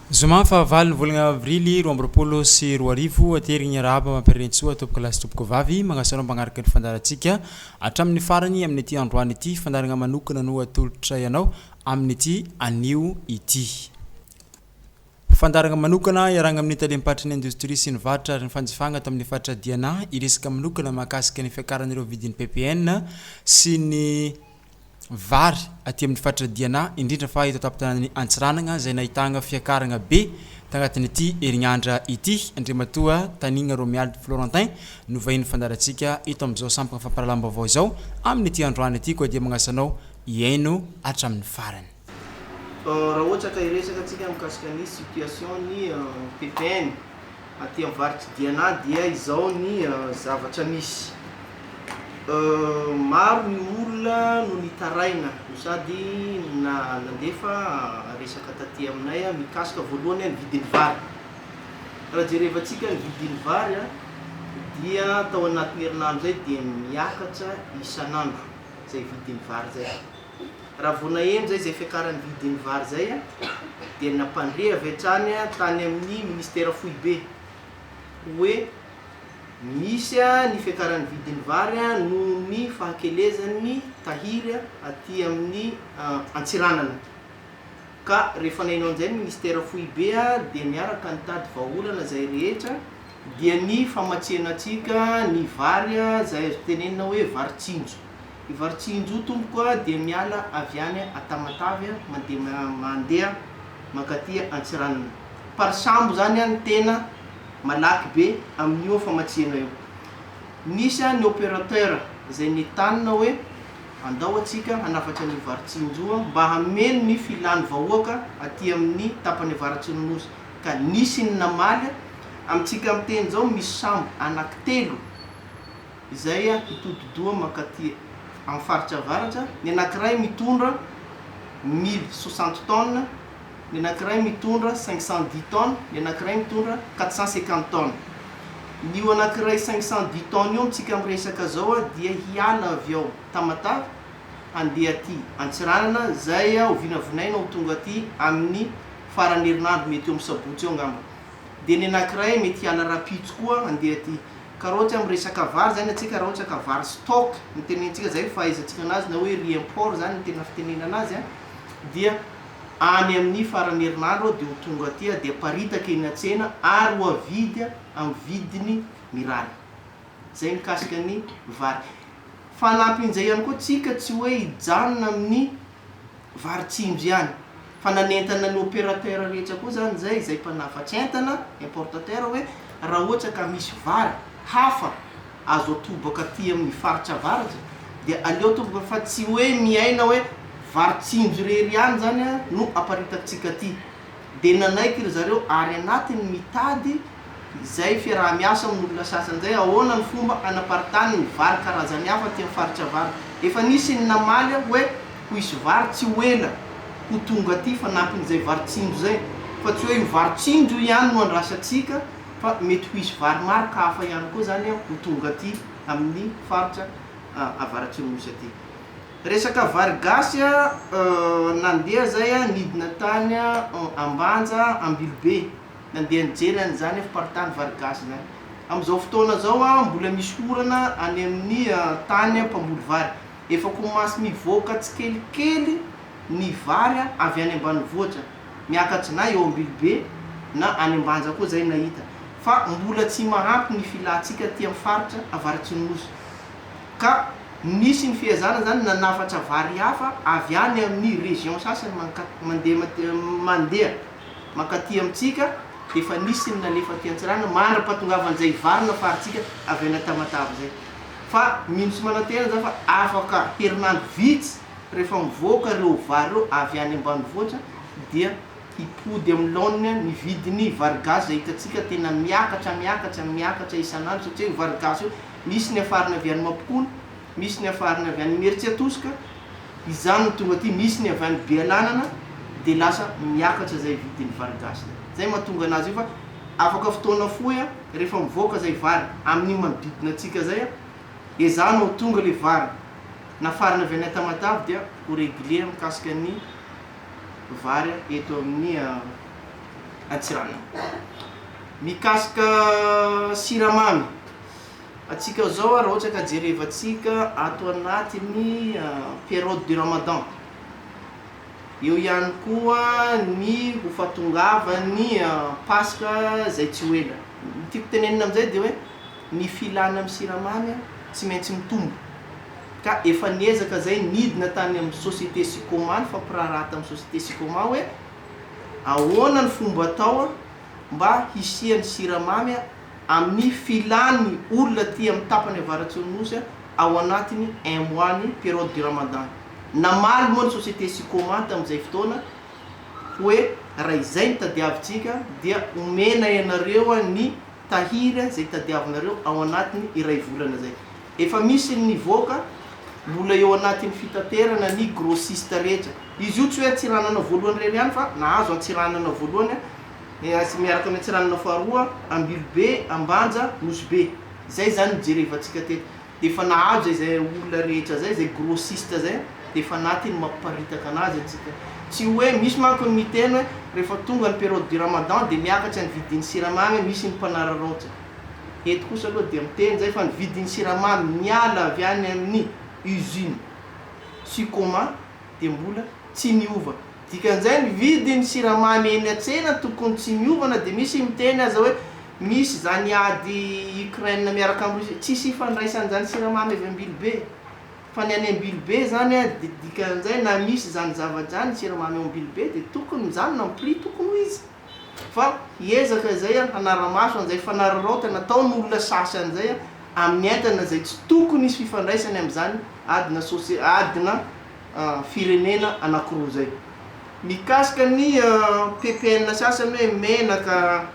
Zoma fahavalo ny volana avrily roa amby roapolo sy roa arivo, aterigny hiarahaba Mampirerenintsoa tompoko lahy sy tompoko vavy, magnasanao magnaraka ny fandaharantsika hatramin'ny farany amin'ity androany ity, fandaharagna manokana no atolotra ianao amin'ity anio ity. Fandaharana manokana iarahana amin'ny Talem-paritry ny Indostria sy ny Varotra ary ny Fanjifana ato amin'ny Faritra Diana hiresaka manokana mahakasika ny fiakaran'ireo vidin'ny ppn sy ny vary aty amin'ny Faritra Diana indrindra fa eto an-tampon-tanànan'i Antsiranana izay nahitana fiakarana be tanatin'ity herinandra ity. Andriamatoa Tanina Romiald Florentin no vahin'ny fandaharantsika eto amin'izao sampana fampahalalam-baovao izao. Amin'ity androany ity koa dia manasa anao hihaino hatramin'ny farany. Raha ohatra ka hiresaka tsika mikasika ny situation ny ppn aty am varitra diana dia izao ny zavatra misy maro ny olona no nitaraina no sady nandefa resaka taty aminay mikasika voalohany ny vidiny vary raha jereva tsika ny vidiny vary dia tao anatiny herinandro zay dia miakatra isanandro zay vidiny vary zay Raha vao naheno izay izay fiakaran'ny vidin'ny vary izay dia nampandre avy hatrany tany amin'ny Ministera Foibe hoe misy ny fiakaran'ny vidin'ny vary noho ny fahakelezan'ny tahiry aty amin'ny Antsiranana. Ka rehefa naino an'izay ny Ministera Foibe dia niaraka nitady vahaolana izay rehetra dia ny famatsiana antsika ny vary izay azo tenenina hoe vary tsinjo. Ivarotsinjo tompoko a dia miala avy any a Tamatave a mandeha mandeha mankaty Antsiranana. Par sambo zany a ny tena malaky be amin'io famatsiana io. Nisy a ny operateur zay nitanina hoe andao atsika hanafatra an'io Varotsinjo a mba hameno ny filan'ny vahoaka aty amin'ny tapany avaratsy ny Nosy ka nisy ny namaly a. Amintsika miteny zao misy sambo anaky telo. izay hitodi-doha mankaty amin'ny faritra avaratra, ny anankiray mitondra mille soixante tonnes, ny anankiray mitondra cinq cent dix tonnes, ny anankiray mitondra quatre cent cinquante tonnes. Ny io anankiray cinq cent dix tonnes io amintsika miresaka izao dia hiala avy ao Tamatave handeha aty Antsiranana, izay hovinavinaina ho tonga aty amin'ny faran'ny herinandro mety eo amin'ny sabotsy eo angamba. Dia ny anankiray mety hiala rahampitso koa handeha aty. Karaoty amin'ny resaka vary zany antsika raha ohatra ka vary stock no tenentsika zay ny fahaizantsika anazy na hoe riz import zany ny tena fitenenana azy an! dia any amin'ny faran'ny herinandro aho dia ho tonga aty aho dia haparitaka eny an-tsena ary ho avidy amin'ny vidiny mirary. Zay mikasika ny vary. Fanampin'izay ihany koa tsika tsy hoe hijanona amin'ny Varotsindry ihany. Fa nanentana ny opérateur rehetra koa izany izay, izay mpanafatsy entana, importateur, hoe raha ohatra ka misy vary hafa azo atobaka aty amin'ny faritra avaratra dia aleo atobaka fa tsy hoe miaina hoe varotsindry irery ihany izany no aparitantsika aty. Dia nanaiky ry zareo ary anatiny mitady izay fiaraha-miasa amin'olona sasany izay ahoana ny fomba hanaparitahany ny vary karazany hafa aty amin'ny faritra Vary. Efa nisy ny namaly aho hoe ho hisy vary tsy ho ela ho tonga aty fanampin'izay vary tsinjo izay fa tsy hoe io vary tsinjo io ihany no andrasantsika fa mety ho hisy vary maro ka hafa ihany koa izany ho tonga aty amin'ny faritra Avaratsimo Nosy aty. Resaka vary gasy a, euh nandeha zay a nidina tany a Ambanja, Ambilobe, nandeha nijery an izany a fiparitahana vary gasy izany. Amin'izao fotoana izao a mbola misy orana any amin'ny a tany a mpamboly vary. Efa komasy mivoaka tsikelikely ny vary a avy any ambanivohitra, miakatra na eo Ambilobe na any Ambanja koa izay nahita. Fa mbola tsy mahampy ny filantsika aty amin'ny faritra avaratsy ny Nosy. Ka nisy ny fihazana zany nanafatra vary hafa avy any amin'ny région sasany manka mandeha mandeha mankaty amintsika dia efa nisy ny nalefa aty Antsiranana mandra-pahatongavan'izay vary nafarintsika avy any Tamatave izay. Fa mino sy manantena za fa afaka herinandro vitsy rehefa mivoaka ireo vary ireo avy any ambanivohitra dia hipody amin'ny laoniny ny vidin'ny vary gasy izay hitantsika tena miakatra miakatra miakatra isan'andro satria io vary gasy io misy niafarana avy any Mampikony, misy niafarana avy any Imerintsiatosika, izany no tonga aty, misy ny avy any Bealanana, dia lasa miakatra izay vidin'ny vary gasy izay. Izay mahatonga anazy io fa afaka fotoana fohy rehefa mivoaka izay vary amin'iny manodidina antsika izay, ezahana ho tonga ilay vary nafarana avy any Tamatave dia ho régulier mikasika ny vary eto amin'ny Antsiranana. Mikasika siramamy. Antsika zao raha ohatra ka jerevantsika ato anatin'ny période du ramadan, eo ihany koa ny ho fahatongavan'ny paska izay tsy ho ela. Ny tiako tenenina amin'izay dia hoe ny filana amin'ny siramamy tsy maintsy mitombo ka efa niezaka izay nidina tany amin'ny société sicoma ny fampiraharaha tamin'ny société sicoma hoe ahoana ny fomba atao mba hisian'ny siramamy amin'ny filan'ny olona aty amin'ny tapany avaratr'iny Nosy ao anatin'ny un mois ny période du Ramadan. Namaly moa ny société Sicoma tamin'izay fotoana hoe raha izay no tadiavintsika dia omena ianareo ny tahiry izay tadiavinareo ao anatin'ny iray volana izay. Efa misy ny nivoaka, mbola eo anatin'ny fitaterana ny grossiste rehetra. Izy io tsy hoe antsiranana voalohany irery ihany fa nahazo antsiranana voalohany miaraka amin'ny antsiranana faharoa, Ambilobe, Ambanja, Nosy Be. Izay izany no jerevantsika teto. Dia efa nahazo izay olona rehetra izay, izay grossiste izay dia efa anatiny mamparitaka anazy antsika. Tsy hoe, misy manko ny miteny hoe rehefa tonga ny période du ramadan dia miakatra ny vidin'ny siramamy, misy ny mpanararaotra. Eto kosa aloha dia miteny izay fa ny vidin'ny siramamy niala avy any amin'ny usine Sicoma dia mbola tsy niova. Dikan'izay ny vidin'ny siramamy eny an-tsena tokony tsy niovana dia misy miteny aza hoe misy izany ady Ukraine miaraka amin'i Russie. Tsisy ifandraisany izany siramamy avy Ambilobe fa ny any Ambilobe izany dia dikan'izay na misy izany zavatra izany ny siramamy ao Ambilobe dia tokony mijanona ny prix tokony ho izy. fa hiezaka izay aho hanara-maso an'izay fanararaotana ataon'olona sasy an'izay amin'ny entana izay tsy tokony hisy fifandraisany amin'izany adina sosi adina firenena anankiroa izay. Mikasika ny ppn sasany hoe menaka,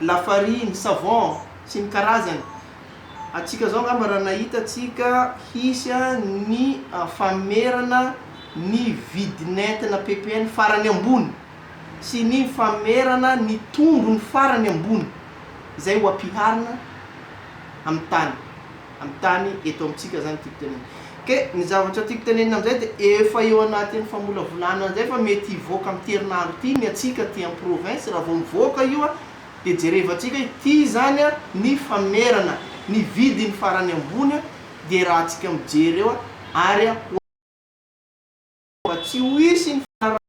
lafariny, savon sy ny karazany, antsika izao angamba raha nahita antsika hisy ny fanonerana ny vidin'entana ppn farany ambony, sy ny famerana ny tondrony farany ambony izay ho ampiharina amin'ny tany, amin'ny tany eto amintsika izany tiako tenenina. Ke ny zavatra tiako tenenina amin'izay dia efa eo anatin'ny famolavolana an'izay fa mety hivoaka amin'ity herinandro ity ny antsika aty amin'ny province, raha vao mivoaka io dia jerevantsika hoe ity izany ny famerana ny vidiny farany ambony dia raha antsika mijery eo ary ho azy fa tsy ho hisy ny fanarahamaso.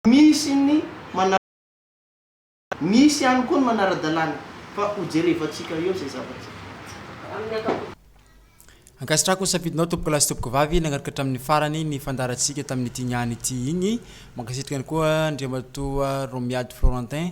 Misy ny manara-dalàna, misy ihany koa ny manara-dalàna, fa hojerevantsika eo izay zavatra amin'ny ankapobeny. Ankasitrahako ny safidinao tompokolahy sy tompokovavy nanaraka hatramin'ny farany ny fandaharantsika tamin'ity niany ity igny. Mankasitraka ihany koa Andriamatoa Romiady Florentin.